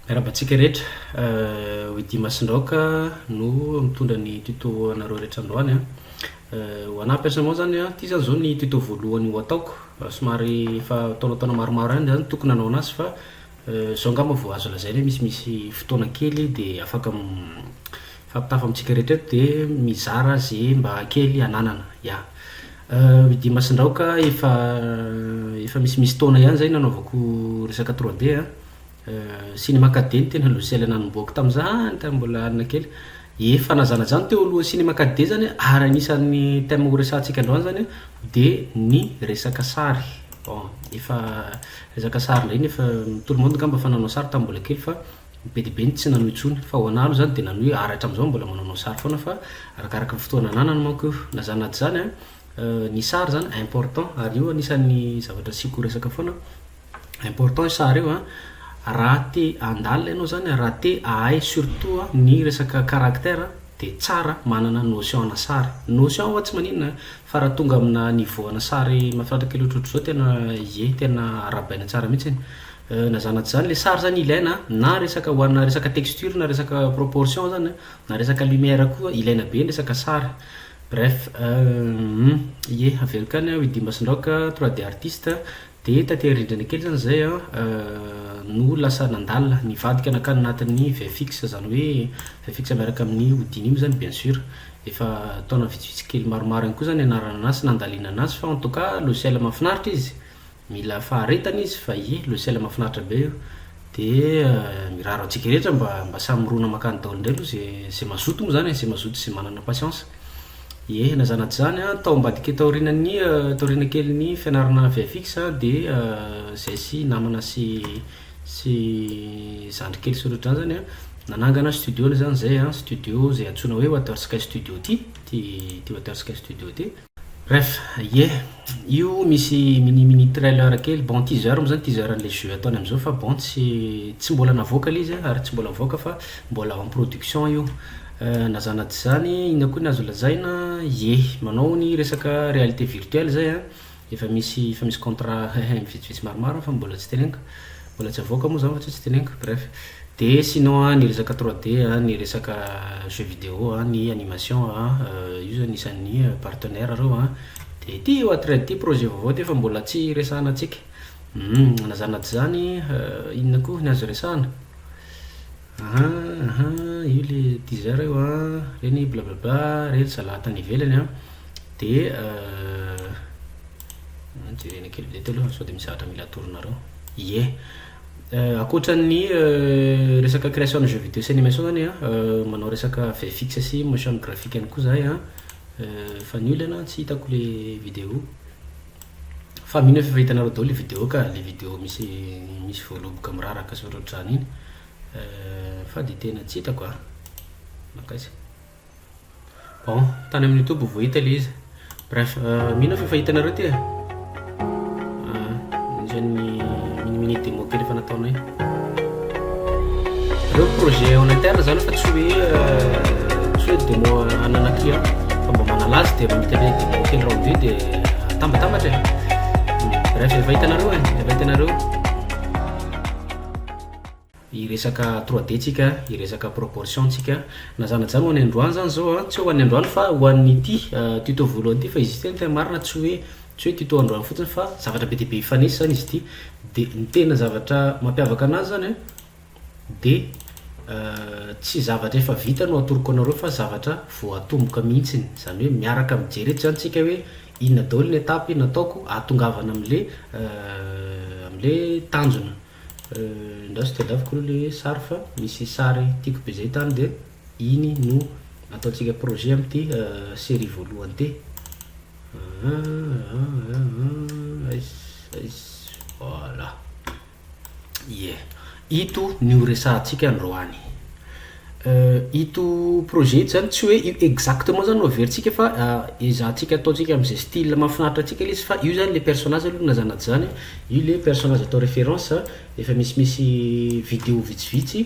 Miarahaba antsika rehetra. Widy Masindraoka no mitondra ny tuto anareo rehetra androany a. Ho anahy personnellement zany a, ty zany zao ny tuto voalohany ho ataoko. Somary efa taonataona maromaro ihany zany tokony hanao anazy fa zao angamba vao azo lazaina hoe misimisy fotoana kely dia afaka Fampitafo amintsika rehetra eto dia mizara ze mba kely ananana ya. Euh Idi Masindraoka efa efa misimisy taona ihany zay nanaovako resaka trois D a, Cinema quatre D no tena logiciel nanombohako tamzany tam mbola alina kely, efa nazanajano teo alohan'ny cinema quatre D zany a ary anisan'ny thème horesahantsika androany zany a de ny resaka sary bon efa resaka sary ndray nefa tout le monde ngamba efa nanao sary tam mbola kely fa Ny be dia be no tsy nanohy intsony, fa ho anah aloha izany dia nanohy ary hatramin'izao mbola manaonao sary foana fa arakaraka ny fotoana ananany manko io. Na izany na tsy izany, ny sary izany important ary io anisan'ny zavatra asiako resaka foana, important io sary io raha te handalina ianao izany, raha te hahay surtout ny resaka caractère dia tsara manana notion ana sary. Notion ho'a tsy maninona fa raha tonga amina niveau ana sary mahafinaritra kely ohatrohatr'izao tena ie, tena arahabaina tsara mihitsy iny. Euh na zana tsy zany le sary zany ilaina a, na resaka ho ana resaka texture na resaka proportion zany a, na resaka lumière koa ilaina be ny resaka sary, bref euh ye averiko any aho i Dimba sy Ndraoka trois D artiste de taty rindrina kely zany zay an euh no lasa nandalina nivadika nankany anatin'ny vfx zany hoe vfx miaraka amin'ny Houdini moa zany bien sur efa taona vitsivitsy kely maromaro any koa zany nianarana anazy sy nandalina anazy fa en tout cas logiciel mahafinaritra izy. Mila faharetana izy fa ie logiciel mafinaritra be io de mirary antsika rehetra mba mba samy mirona makany daoly ndray aloha ze ze mazoto moa zany e ze mazoto ze manana patience ie na zana tsy zany an tao ambadika taorinan'ny taorina kelin'ny fianarana vfx an de zay sy namana sy sy zandry kely sy otrany zany an nanangana studio-ny zany zay an studio ze antsoina hoe water sky studio ty ty water sky studio ty Bref, ie, io misy mini mini trailer kely, bon teaser moa zany, teaser an'ilay jeux ataony amin'izao fa bon tsy tsy mbola navoaka ilay izy an, ary tsy mbola mivoaka fa mbola en production io, na zana tsy zany inona koa ny azo lazaina, ie, manao ny resaka réalité virtuelle zay an, efa misy efa misy contrat hein hein vitsivitsy maromaro fa mbola tsy teneniko. Mbola tsy avoaka moa zany fa tsy tsy teneniko, bref. De sinon an, ny resaka trois D an, ny resaka jeux vidéo an, ny animation an, io zany isan'ny partenaires reo an, de ty io atready ty projet vaovao ty fa mbola tsy resahana antsika, humm, na zany na tsy zany, inona koa ny azo resahana? Aha aha io le teaser io an, reny blablabla, reny zalahy tany ivelany an, de jerena kely eto aloha sao de misy zavatra mila atoronareo, ie ankoatran'ny resaka création de jeux vidéo sy animation zany an, manao resaka vfx sy motion graphic ihany koa zahay an, fa ny olana tsy hitako le vidéo. Fa mino aho f'efa hitanareo daholo le video ka, le video misy misy voaloboka miraraka sy ohatrohatr'izany iny euh fa de tena tsy hitako a! Mankaiza? Bon, tany amin'ny youtube ho voahita le izy. Bref, mino aho f'efa hitanareo ty e! Ah, izay ny mini mini demo kely efa nataonay. Ireo projets en interne zany fa tsy hoe tsy hoe demo en un client fa mba manala azy dia raha mety hoe demo kely round vue dia atambatambatra e. Bref, efa hitanareo e, efa hitanareo hiresaka 3D tsika, hiresaka proportion tsika. Na zany na zany ho any androany zany zao a, tsy hoe ho any androany fa ho an'ity tuto voalohany ity fa izy ity ny tena marina tsy hoe Tsy hoe tuto androany fotsiny fa zavatra be dia be hifanesy izany izy ity. Dia ny tena zavatra mampiavaka anazy izany an, dia tsy zavatra efa vita no atoroko anareo fa zavatra vao atomboka mihitsiny. Izany hoe miaraka mijery eto izany isika hoe inona daholo ny étape nataoko ahatongavana amin'ilay amin'ilay tanjona. Ingahy sao tadiaviko aloha ilay sary fa misy sary tiako be izay tany dia iny no ataontsika projet amin'ity série voalohany ity. Ito ny ho resahantsika androany. Ito projet ito zany tsy hoe exactement zany no averintsika fa ezahantsika ataontsika am'zay style mahafinaritra antsika le izy fa io zany le personnage aloha na zana tsy zana e, io le personnage atao référence, efa misimisy video vitsivitsy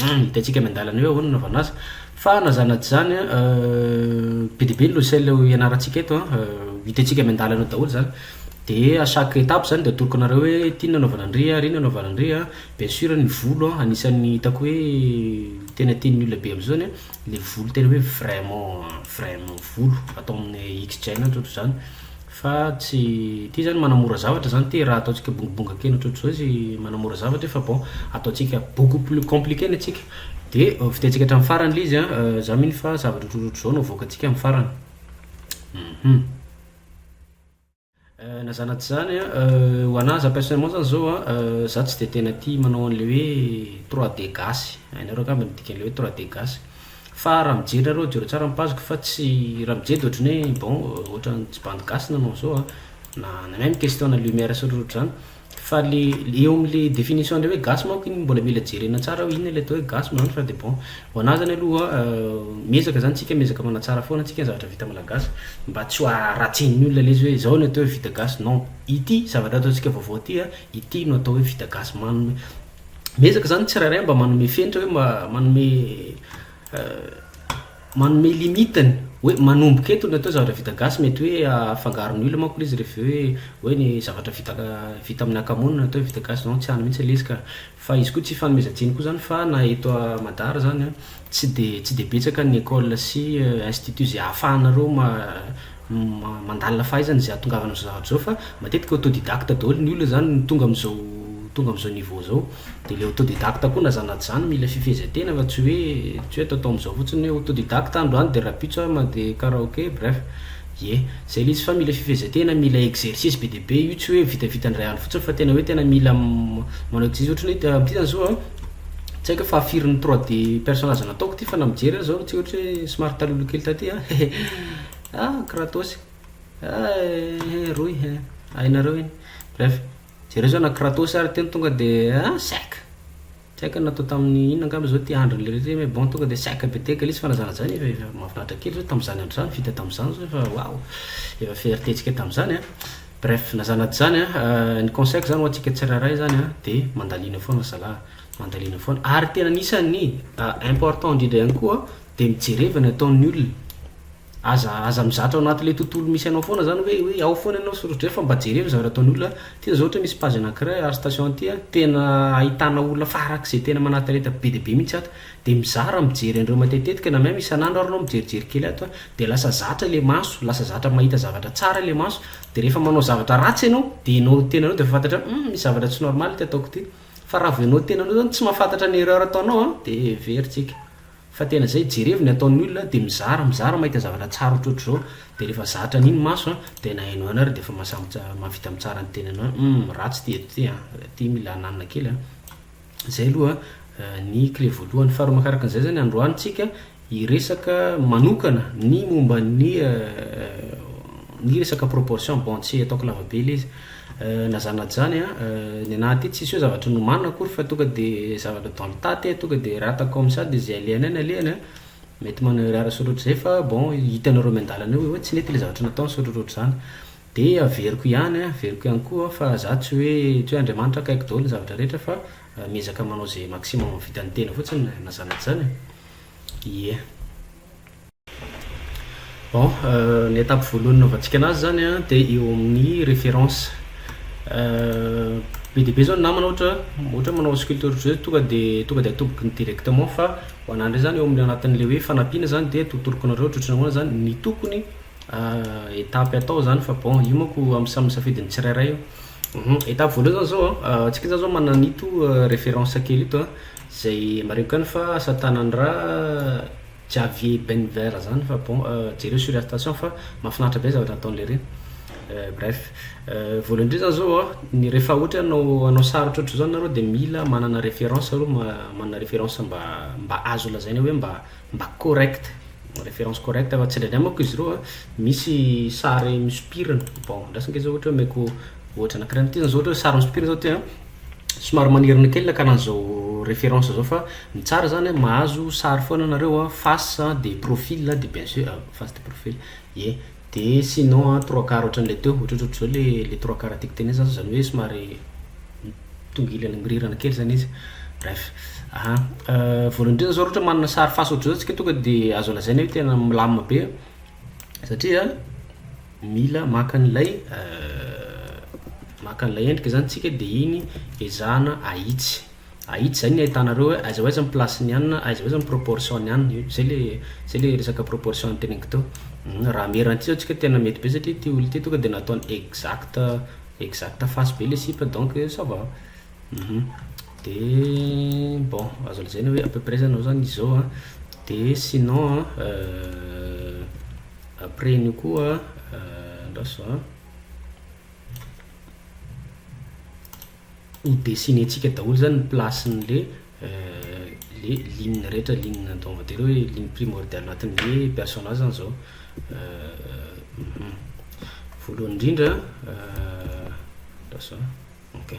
Hum hitantsika eny an-dalana eo ahoana ny hanaovana azy. Fa na zany na tsy zany an, be dia be ny logiciel ho ianarantsika eto an, hitantsika eny an-dalana eo daholo zany. De à chaque étape zany de atoroko anareo hoe ty ny anaovana an'ry, ry ny anaovana an'ry an. Bien sur ny volo an anisan'ny hitako hoe tena tian'ny olona be am'zao ny le volo tena hoe vraiment vraiment volo atao amin'ny X-gene ohatrohatr'izany. Fa tsy ity izany manamora zavatra izany ity raha ataontsika bongobonga kely ohatrohatr'izao izy manamora zavatra fa bon ataontsika beaucoup plus compliqué ny antsika de vidintsika hatramin'ny farany le izy an za mino fa zavatra ohatrohatr'izao no avoakantsika amin'ny farany hum na zany na tsy zany an ho anahy za personnellement zany zao an za tsy de tena tia manao an'le hoe trois D gasy hainareo angamba ny dikan'le hoe trois D gasy. Fa raha mijery nareo jereo tsara ny page-ko fa tsy raha mijedy ohatrany hoe bon ohatrany tsy bandy gasy nanao an'izao a na na même question na lumière sy ohatrohatry zany fa le eo amle définition le hoe gasy manko iny mbola mila jerena tsara hoe inona le atao hoe gasy manao an'zany fa de bon ho anah zany aloha miezaka zany tsika miezaka manatsara foana tsika ny zavatra vita malagasy mba tsy ho aratsin'ny olona lesy hoe zao no atao hoe vita gasy non ity zavatra ataontsika vaovao ty a ity no atao hoe vita gasy man miezaka zany ny tsirairay mba manome fenitra hoe manome manome limite-ny hoe manomboka eto ny atao zavatra vita gasy mety hoe afangaro ny olona manko le izy rehefa hoe hoe ny zavatra vita vita amin'ny akamoana atao hoe vita gasy non tsy any mihitsy le izy ka fa izy koa tsy ifanomezan-tsiny koa zany fa na eto a madar zany a tsy de tsy de betsaka ny école sy institut zay ahafahanareo ma- mandalina fahaizana izay ahatongavana amin'izao zavatra izao fa matetika autodidacte daholo ny olona izany no tonga amin'izao tonga amin'izao niveau izao dia ilay autodidacte koa na izany na tsy izany mila fifehezan-tena fa tsy hoe tsy hoe ataotao amin'izao fotsiny hoe autodidacte aho androany dia rahampitso aho mandeha karaoke bref ie izay ilay izy fa mila fifehezan-tena mila exercice be dia be io tsy hoe vitavita indray andro fotsiny fa tena hoe tena mila manao exercice ohatra ny hoe ity izany zao a tsy haiko hoe fahafirin'ny trois D personnage nataoko ity fa na mijery aza aho tsy ohatra hoe somary taloha kely taty a he he. Ah kratos eh eh rohy eh hainareo iny bref jereo zao na kratos ary teny tonga de ah sec tsy haiko na natao tamin'ny inona angamba zao ty androny le rehetra zay mais bon tonga de sec be tegaka le izy fa na zany na zany efa mahafinaritra kely zao tamin'izany andro zany vita tamin'izany zao efa waouh efa fierté ntsika tamin'izany a bref na zany na tsy zany a ny conseil ko zany ho antsika tsirairay zany a de mandalina foana zalahy mandalina foana ary tena anisan'ny important indrindra ihany koa dia mijereva ny ataon'ny olona, aza aza mizatra ao anatin'ilay tontolo misy anao foana zany hoe hoe ao foana ianao soratr'izay fa mba jereo ny zavatra ataon'ny olona a, ty zao ohatra misy page anakiray ary station ty a tena ahitana olona farak'izay tena manatalenta be dia be mihitsy ato dia mizara mijery an'ireo matetitetika na même isan'andro ary anao mijerijery kely ato a dia lasa zatra ilay maso lasa zatra mahita zavatra tsara ilay maso dia rehefa manao zavatra ratsy ianao dia ianao tenanao dia efa fantatra hoe hum misy zavatra tsy normal ity ataoko ity fa raha vao ianao tenanao zany tsy mahafantatra ny erreur ataonao a dia very tsika. Fa tena zay, jerevo ny ataon'ny olona de mizara mizara mahita zavatra tsara otrotr'zao de refa zatra an'iny maso an de nahaino an ary de efa mahavita mitsara ny tenany hoe hum ratsy ty eto ty an, ty mila ananina kely an. Zay aloha ny clé voalohany. Faharoa makaraka an'izay zany androany tsika hiresaka manokana ny momba ny ny resaka proportion, bon tsy ataoko lavabe le izy. Na zany na zany an, ny anah aty tsisy hoe zavatra nomanina akory fa tonga de zavatra dans le tas te tonga de rata comme ça de ze alehanay ny alehany an, mety manao erreur sotro ohatrizay fa bon hitanareo miandalana eo hoe tsy nety le zavatra nataony sotro ohatr'izany de averiko ihany an, averiko ihany koa fa za tsy hoe tsy hoe Andriamanitra akaiky daholo ny zavatra rehetra fa miezaka manao ze maximum vitan'ny tena fotsiny na zany na zany e. Ie. Bon, ny étape voalohany nanaovantsika anazy zany an de eo amin'ny référence, be dia be zao ny namana ohatra ohatra hoe manao sculpture jeu tonga de tonga de atobokiny directement fa ho anah ndray zany eo amin'ny anatin'le hoe fanampiana zany de totoloko anareo ohatrohatry ny ahoana zany ny tokony étape atao zany fa bon io manko amin'ny samy safidin'ny tsirairay io, um étape voalohany zany zao an antsika zany zao manana an'ito référence kely ito an zay marihiko ihany fa asa tanana Javier Benver zany fa bon jereo sur station fa mafinaritra be zavatra nataony lery eh bref voalohany indrindra zany zao ny rehefa ohatra hoe hanao hanao sary ohatrohatry zao nareo de mila manana référence aloha ma manana référence mba mba azo lazaina hoe mba mba correct référence correct fa tsindraindray manko izy reo a misy sary misopirana bon andraso nge zao ohatra hoe omeko ohatra anakirainyty zany zao ohatra hoe sary misopirana zao ty a. somary manerina kely ilay kalan'izao référence zao fa ny tsara zany a mahazo sary foana nareo a face a de profil a de bien sur a face de profil ie de sinon a trois quart ohatran'ilay teo ohatrohatry zao le le trois quart tiako tenenina zany zany hoe somary tonga ilany mirirana kely zany izy bref aha voalohany indrindra zao raha ohatra manana sary face ohatry zao tsika tonga de azo lazaina hoe tena milamina be satria. Mila maka an'ilay maka an'ilay endrika zany tsika de iny ezahana ahitsy ahitsy zay ny ahitana reo hoe aiza ho aiza ny place ny anina aiza ho aiza ny proportion ny anina zay le zay le resaka proportion noteneniko teo raha am eran'ity zao tsika tena mety be satria ity olona ity tonga de nataony exact exact face be le sipa donc ça va de bon azo lazaina hoe à peu près zany izao an de sinon an. Après an'io koa andraso a. Ho dessiner-tsika daholo zany ny place-n'le le ligne rehetra, ligne atao on va dire hoe ligne primordiale anatin'le personnage zany zao voalohany indrindra andraso a ok.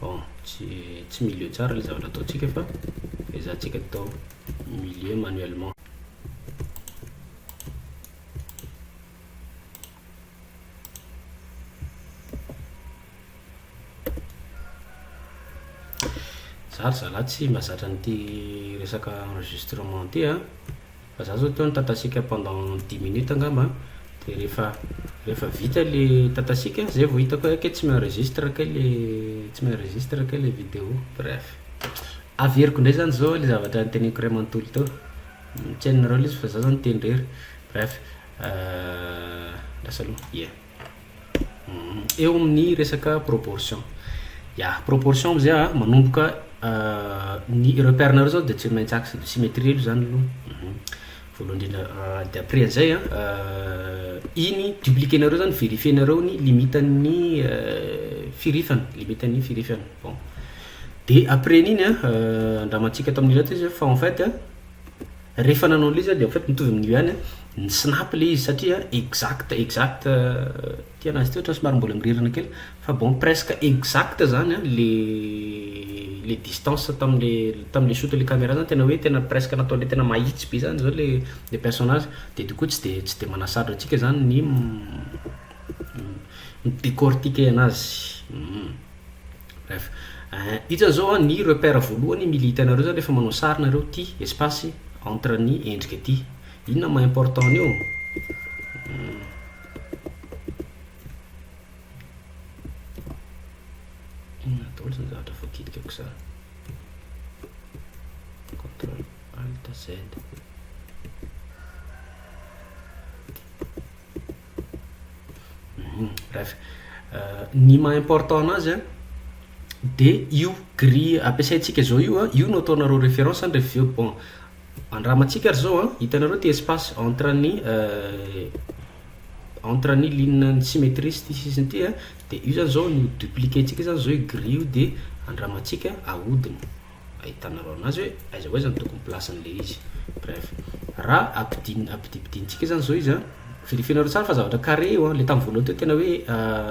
Bon, tsy tsy milieu tsara ilay zavatra ataontsika fa ezahantsika atao milieu manuellement. Za ry zalahy tsy mahazatra an'ity resaka enregistrement ity a. Za zao teo nitatasiaka pendant dix minutes angamba an, de rehefa rehefa vita le tatasiaka zay vao hitako hoe kay tsy mi-enregistre kay le tsy mi-enregistre kay le video, bref. Averiko ndray zany zao le zavatra niteneniko ray manontolo teo, tsy hainareo lesy fa za zao niteny rery, bref, lasa aloha, yeah. Eo amin'ny resaka proportion. Ya, proportion amizay a, manomboka ny repère nareo zao dia tsy maintsy axe de symétrie aloha zany aloha. Voalohany indrindra dia après an'izay a iny dupliquer nareo zany verifier nareo ny limite an'ny firifana, limite an'ny firifana. Bon, dia après an'iny a, andramantsika tamin'ireto izy fa en fait a. Rehefa nanao an'ilay izy aho dia en fait mitovy amin'io ihany an, ny snap ilay izy satria exact exact ity an'azy ity ohatran'ny somary mbola mirirana kely fa bon presque exact zany an le le distance tamin'le tamin'le shoot le camera zany tena hoe tena presque natao le tena mahitsy be zany zao le le personnage dia du coup tsy dia tsy dia manasarotra antsika zany ny mi mi mi mi décortiquer an'azy. Bref. Hitan'ny zao an, ny repère voalohany mila hitanareo zany rehefa manao sary nareo ity espace entre ny endrika ity. Inona maha important an'io? Inona daholo zany zavatra voadidikako zany? Contrôle Alt Z. Bref, ny maha important anazy an de io grille ampiasaintsika zao io an, io no ataonareo référence an, rehefa avy eo bon andramantsika ary zao an, hitanareo ty espace entre ny entre ny ligne ny symétrie sy ty sisiny ty an, de io zany zao no dupliquer-ntsika zany zao io grille io de andramantsika ahodina. ahitanareo anazy hoe aiza ho aiza ny tokony place-ny le izy bref raha ampidin ampidimpidinintsika zany zao izy an verifier-nareo tsara fa zavatra carré io an le tam voalohany teo tena hoe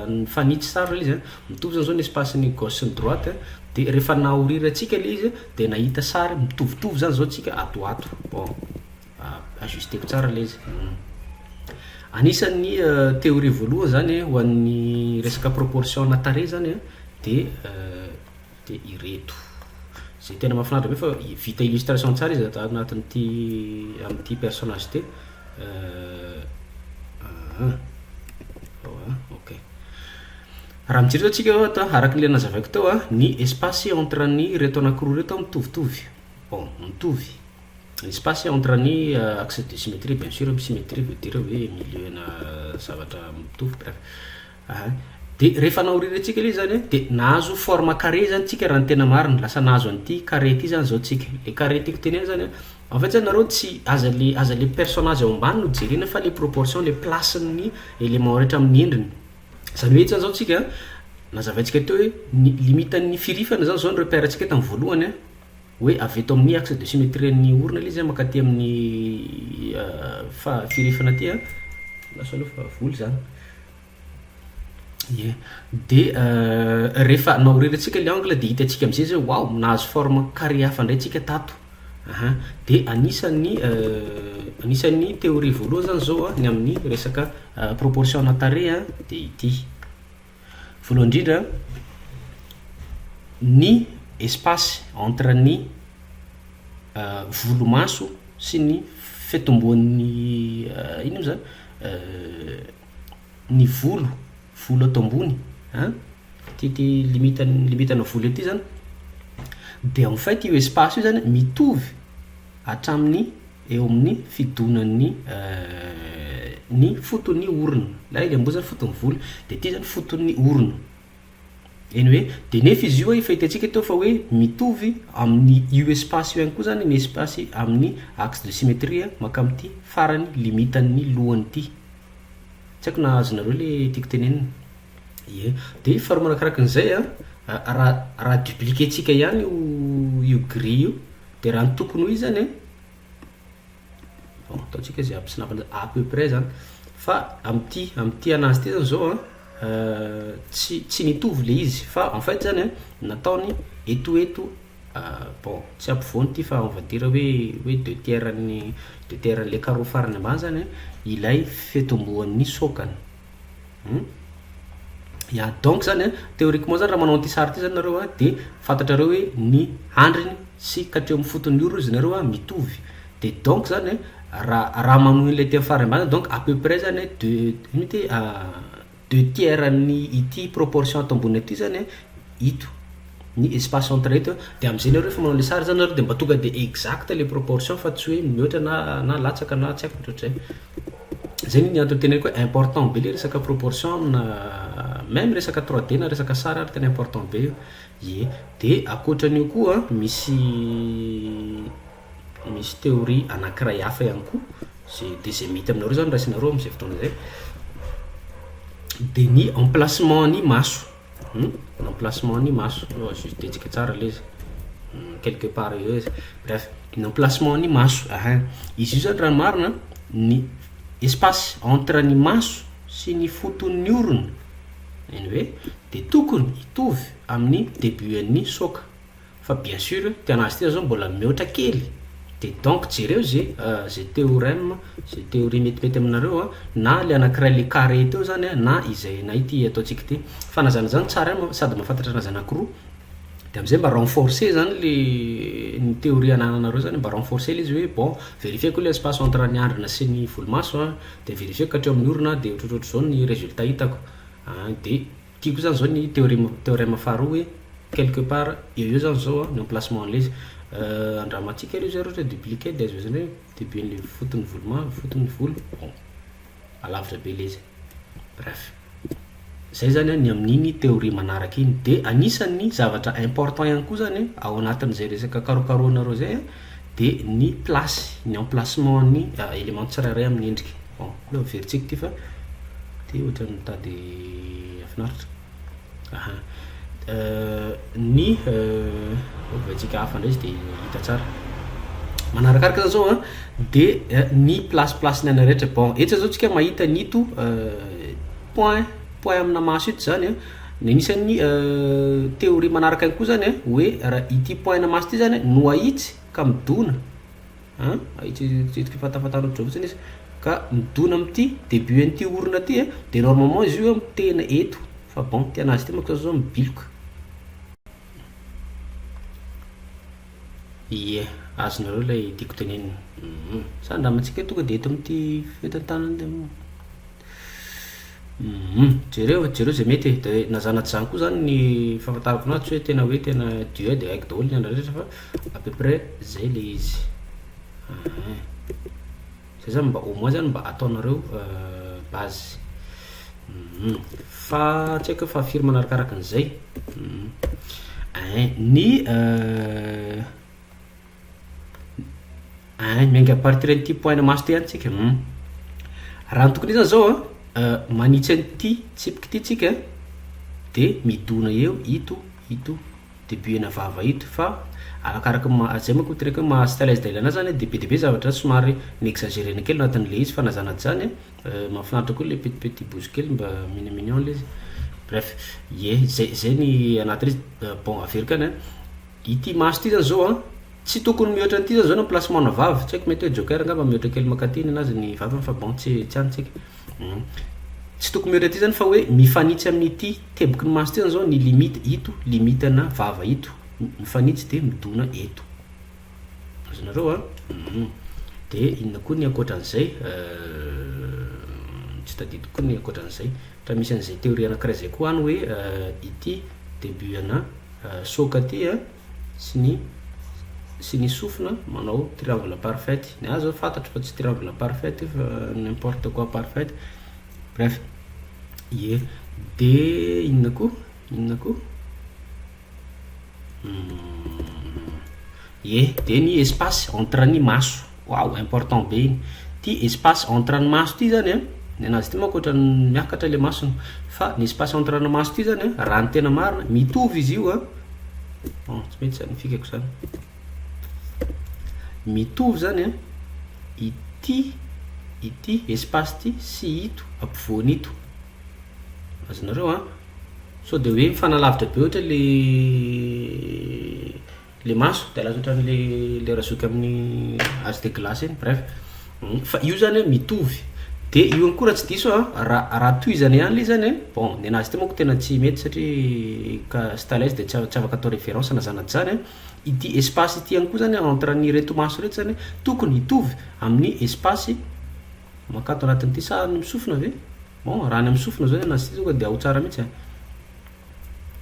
nifanitsy sary le izy an mitovy zany zao ny espace-ny gauche sy ny droite an de refa nahoriratsika le izy de nahita sary mitovitovy zany zao tsika ato ho ato bon ajusteko tsara le izy anisan'ny theorie voalohany zany ho an'ny resaka proportion-na tarehy zany an de Dia ireto. Izay tena mahafinaritra be fa vita illustration tsara izy ato anatin'ity amin'ity personnage ity. Ok. Raha mijery izao tsika ato araka ilay nazavaiko teo ny espace entre ny reto anankiroa reto mitovitovy. Bon, mitovy. Ny espace entre ny euh, axe de symétrie bien sûr, symétrie veut dire hoe milieu-na zavatra mitovy bref. Ahay. Dia rehefa naoririantsika ilay izy izany an, dia nahazo forme carré izany tsika raha ny tena marina, lasa nahazo an'ity carré ity izany izao tsika. Ilay carré tiako tenena izany an, en fait izany nareo tsy, aza ilay, aza ilay personnage ao ambany no jerena fa ilay proportion, ilay place-n'ny élément rehetra amin'ny endriny. Izany hoe eto izany izao tsika an, nazavaintsika teo hoe ny limite-n'ny firifana izany izao ny repère-ntsika tamin'ny voalohany an, hoe avy eto amin'ny axe de symétrie-n'ny orona ilay izy mankaty amin'ny firefana aty an, lasa aloha fa vola izany, ie, dia rehefa naorerantsika ilay angle dia hitantsika amin'izay izay hoe waouh nahazo forme carré hafa indray tsika tato aha, dia anisan'ny anisan'ny théorie voalohany izany izao an ny amin'ny resaka proportion-na tarehy dia ity. Voalohany indrindra, ny espace entre ny volomaso sy ny fitomboan'ny inona moa zany? ny volo, volo ato ambony an, ity limite limitana volo ity zany dia en fait io espace io zany mitovy hatramin'ny eo amin'ny fidonan'ny ny foton'ny orona na eny amboa zany foton'ny vola de aty zany foton'ny orona eny hoe de nefa izy io efa hitantsika teo fa hoe mitovy amin'ny io espace io ihany koa zany ny espace amin'ny axe de symétrie maka amin'ity farany limitan'ny lohany ity tsy haiko na azonareo le tiako tenenina ie de faharoa manakarakin'izay a raha raha dupliquer-ntsika ihany io io grille io Dia raha ny tokony ho izy zany an, bon ataontsika hoe zay aby snap an'izany, à peu près zany, fa amin'ity amin'ity an'azy ity zany zao an, tsy tsy mitovy le izy fa en fait zany an, nataony eto eto bon tsy ampovoany ity fa on va dire hoe hoe deux tiers an'ny deux tiers an'ilay carreau farany ambany zany an ilay fitomboan'ny sôkany. Hum? Ya, donc zany an, théoriquement zany raha manao an'ity sary ity zany nareo an, dia fantatrareo hoe ny handriny sy ka hatreo amin'ny foton'ny orony izy nareo an, mitovy. Dia donc zany an, raha raha manohy an'ilay teny farany ambany zany, donc à peu près zany an, deux ino ity a deux tiers an'ny ity proportion ato ambony aty zany an, ito, ny espace entre ito an, dia amin'izay nareo rehefa manao ilay sary zany nareo dia mba tonga dia exact ilay proportion fa tsy hoe mihoatra na na latsaka na tsy haiko ny ohatr'izay. Zay ny antony teneniko hoe important be le resaka proportion amina meme resaka trois D na resaka sary ary tena important be io. Ie. De akoatran'io koa misy misy théorie anankiray hafa ihany koa ze de ze mety aminareo zany raisinareo am'zay fotoana zay de ny emplacement ny maso. Humm emplacement ny maso oh zut hetsika tsara le izy humm quelque part eo izy bref ny emplacement ny maso ahin izy io zany raha ny marina an ny espace entre ny maso sy ny foton'ny orona any hoe de tokony hitovy amin'ny debut an'ny soka Fa bien sur tena azy ity zao mbola mihoatra kely de donc jereo ze ze theorem ze theorie metimety aminareo a na le anakiray le carré teo zany a na izay na ity ataontsika ity fa na zany na zany tsara an sady mahafantatra anazy anakiroa de amizay mba renforcer zany le ny theorie anananareo zany mba renforcer le izy hoe bon verifieko le espace entre ny andrina sy ny volomaso a de verifieko ka hatreo amin'ny orona de ohatrohatrohatrizao ny résultat hitako a de Tiako zany zao ny théorème théorème faharoa hoe quelque part eo eo zany zao an ny emplacement an'le izy andramantsika ry zareo ohatra hoe duplicate dia azonao zany hoe debuen'le foton'ny volo mavo foton'ny volo bon alavitra be le izy bref zay zany an ny amin'iny théorie manaraka iny dia anisan'ny zavatra important ihany koa zany an ao anatin'izay resaka karokarohanareo zay an dia ny place, ny emplacement an'ny élément tsirairay amin'ny endrika. Bon, aleo averintsika ity fa dia ohatran'ny mitady hafinaritra. Aha. Euh, ny euh, ovaintsika hafa indray izy dia hita tsara. Manarakaraka izany zao an, dia eh, ny place place ny anay rehetra. Bon, etsy izao tsika mahita ny ito euh, point point amina maso ito izany an. Ny anisan'ny théorie manaraka ihany koa izany an, hoe raha ity point ana maso ity izany an no ahitsy ka midona an, ahitsy hetsika fahatafatahan'ny hoditra fotsiny izy, ka midona amin'ity début an'ity orona ity an, dia normalement izy io mitehina eto, fa bon ity an'azy ity manko zao zao mibiloka. Ie, azonareo ilay tiako tenenina. Sa andramantsika tonga dia eto amin'ity fentantanana ity moa? Humm jereo e, jereo izay mety e, dia na zanatr'i izany koa izany ny fahafantarako anao tsy hoe tena hoe tena Dieu dia haiko daholo ny andro rehetra fa à peu près izay ilay izy ahh. Izay izany mba au moins izany mba ataonareo base humm fa tsy haiko hoe fa firy manarakaraka an'izay humm ein ny. Ay miainga à partir an'ity point namaso ty any tsika hum raha ny tokony izany zao an manitsy an'ity tsipika ity tsika de midona eo ito ito debut ena vava ito fa arakaraka ny maha zay manko ny tenako hoe maha stylist de ilana azy zany de be de be zavatra somary mi exagerena kely anatin'le izy fa na zany na zany an mahafinaritra koa le petit petit bouche kely mba mignon mignon le izy bref ie zay zay ny anatin'izy bon averiko any an. Ity maso ity zany zao an, tsy tokony mihoatra an'ity zany zao ny placement ana vavy, tsy haiko mety hoe joker angamba mihoatra kely mankaty ny anazy ny vaviny fa bon tsy tsy antsika. Hum. Tsy tokony mihoatra ity zany fa hoe mifanitsy amin'ity teboky ny maso ity zany zao ny limite ito, limite ana vava ito, mifanitsy dia midona eto. Azonareo an? Hum. Dia inona koa ny ankoatra an'izay? Euh, tsy tadidiko koa ny ankoatra an'izay. Raha misy an'izay théorie anankiray izay koa any hoe ity début ana soka ity an, sy ny sy ny sofina manao triangle parfaite, ny ahy zao fantatro fa tsy triangle parfaite io fa n'importe quoi parfaite, bref, ie, dia inona koa, inona koa, Hum ye dia ny espace entre ny maso waouh important be iny ity espace entre ny maso ity zany a ny anazy ity manko ohatran'ny miakatra le masony fa ny espace entre ny maso ity zany a raha ny tena marina mitovy izy io a bon tsy mety zany ny fikako zany mitovy zany a ity ity espace ity sy ito ampovoany ito azonareo a Sao dia hoe mifanalavitra be ohatra ilay ilay maso dia lasa ohatran'ilay ilay razoky amin'ny ase de glace iny bref fa io zany an mitovy dia io ihany koa raha tsy diso an raha raha tohizana ihany ilay izy zany an bon ny an'azy ity manko tena tsy mety satria ka stylus dia tsy a- tsy afaka atao référence na zana tsy zany an ity espace ity ihany koa zany an entre an'ireto maso ireto zany an tokony hitovy amin'ny espace Mankato anatin'ity sa ny misofina ve? Bon, raha ny amin'ny sofina izao ny anazy ity tonga dia ao tsara mihitsy a!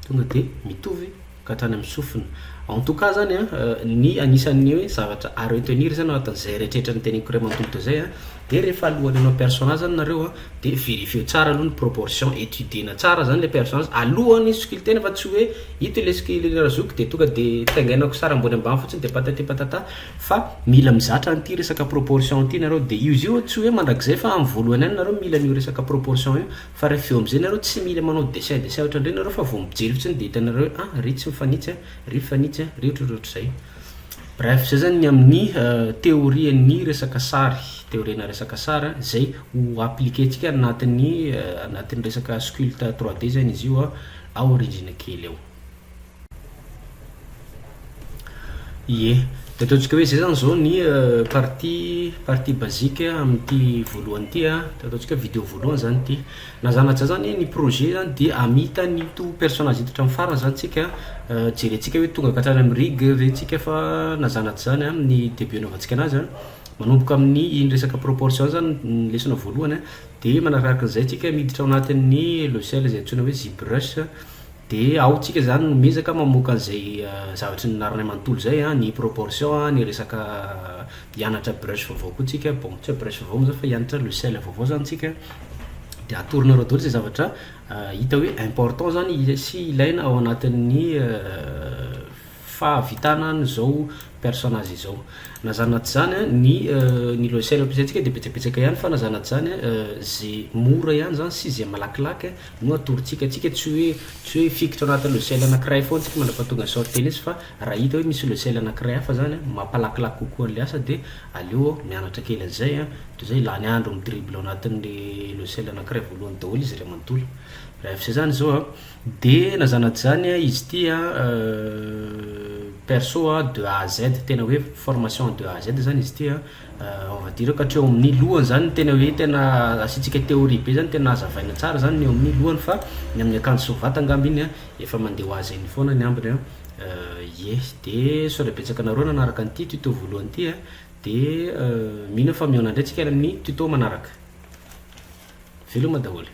Tonga dia mitovy ka hatrany amin'ny sofina. En tout cas zany a, ny anisan'ny hoe zavatra à retenir zany ao anatin'izay rehetrarehetra noteneniko iray manontolo teo izay a, dia rehefa alohan'ny hanao personnage zany nareo a, dia verifieo tsara aloha ny proportion, etudier-na tsara zany ilay personnage alohan'ny sokilitena fa tsy hoe ito ilay sokilina razoky dia tonga dia taingainako sary ambony ambany fotsiny dia patati patata, Fa mila mizatra an'ity resaka proportion ity nareo de izy io tsy hoe mandrakizay fa amin'ny voalohany ihany nareo mila an'io resaka proportion io fa rehefa eo amin'izay nareo tsy mila manao dessin dessin ohatran'ireny nareo fa vao mijery fotsiny de hitanareo hoe ah ry tsy mifanitsy ah ry mifanitsy ah ry ohatrohatry ohatr'izay bref zay zany ny amin'ny théorie ny resaka sary théorie na resaka sary zay ho appliquer tsika anatin'ny anatin'ny resaka sculpte 3D zany izy io ah aoriginal kely eo Ie. Dia ataontsika hoe izay izany izao ny partie partie basique amin'ity voalohany ity a, dia ataontsika hoe video voalohany izany ity. Na zany na tsy zany izany ny projet izany dia hamita an'ito personnage ito hatramin'ny farany izany isika, jerentsika hoe tonga hatrany amin'ny rig ve isika fa na zany na tsy zany amin'ny début anaovantsika an'azy a, manomboka amin'ny iny resaka proportion iny izany ny lesona voalohany a, dia manaraka izay isika miditra ao anatin'ny logiciel izay antsoina hoe zbrush. Dia ao tsika zany no miezaka mamoaka an'izay zavatry ny narinay manontolo zay an, ny proportion an, ny resaka hianatra brush vaovao koa tsika, bon tsy hoe brush vaovao moa zany fa hianatra logiciel vaovao zany tsika, dia atoronareo daholo zay zavatra hita hoe important zany sy ilaina ao anatin'ny. fahavitana an izao personnage izao. Na zany na tsy zany an, ny ny logiciel ampiasaintsika dia betsabetsaka ihany fa na zany na tsy zany an, ze mora ihany zany sy ze malakilaky no atorontsika, tsika tsy hoe tsy hoe hifikitra anaty logiciel anakiray foana tsika mandrapahatonga ny sort tennis fa raha hita hoe misy logiciel anakiray hafa zany an mampalakilaky kokoa anle asa dia aleo aho mianatra kely anzay an, toy zay lany andro mi dribble anatinle logiciel anakiray voalohany daholo izy iray manontolo, raha vao zay zany zao an. De lazana dzany a izy ty a perso a de A à Z tena hoe formation en de A à Z zany izy ty a on va dire ka hatreo amin'ny lohany zany ny tena hoe tena asiantsika théorie be zany tena azavaina tsara zany ny eo amin'ny lohany fa ny amin'ny akanjo sy ny vata angamba iny a efa mandeha ho azy eny foana ny ambiny a ye de sao de betsaka anareo nanaraka an'ity tuto voalohany ity a de mino aho fa mihaona indray tsika any amin'ny tuto manaraka veloma daholo.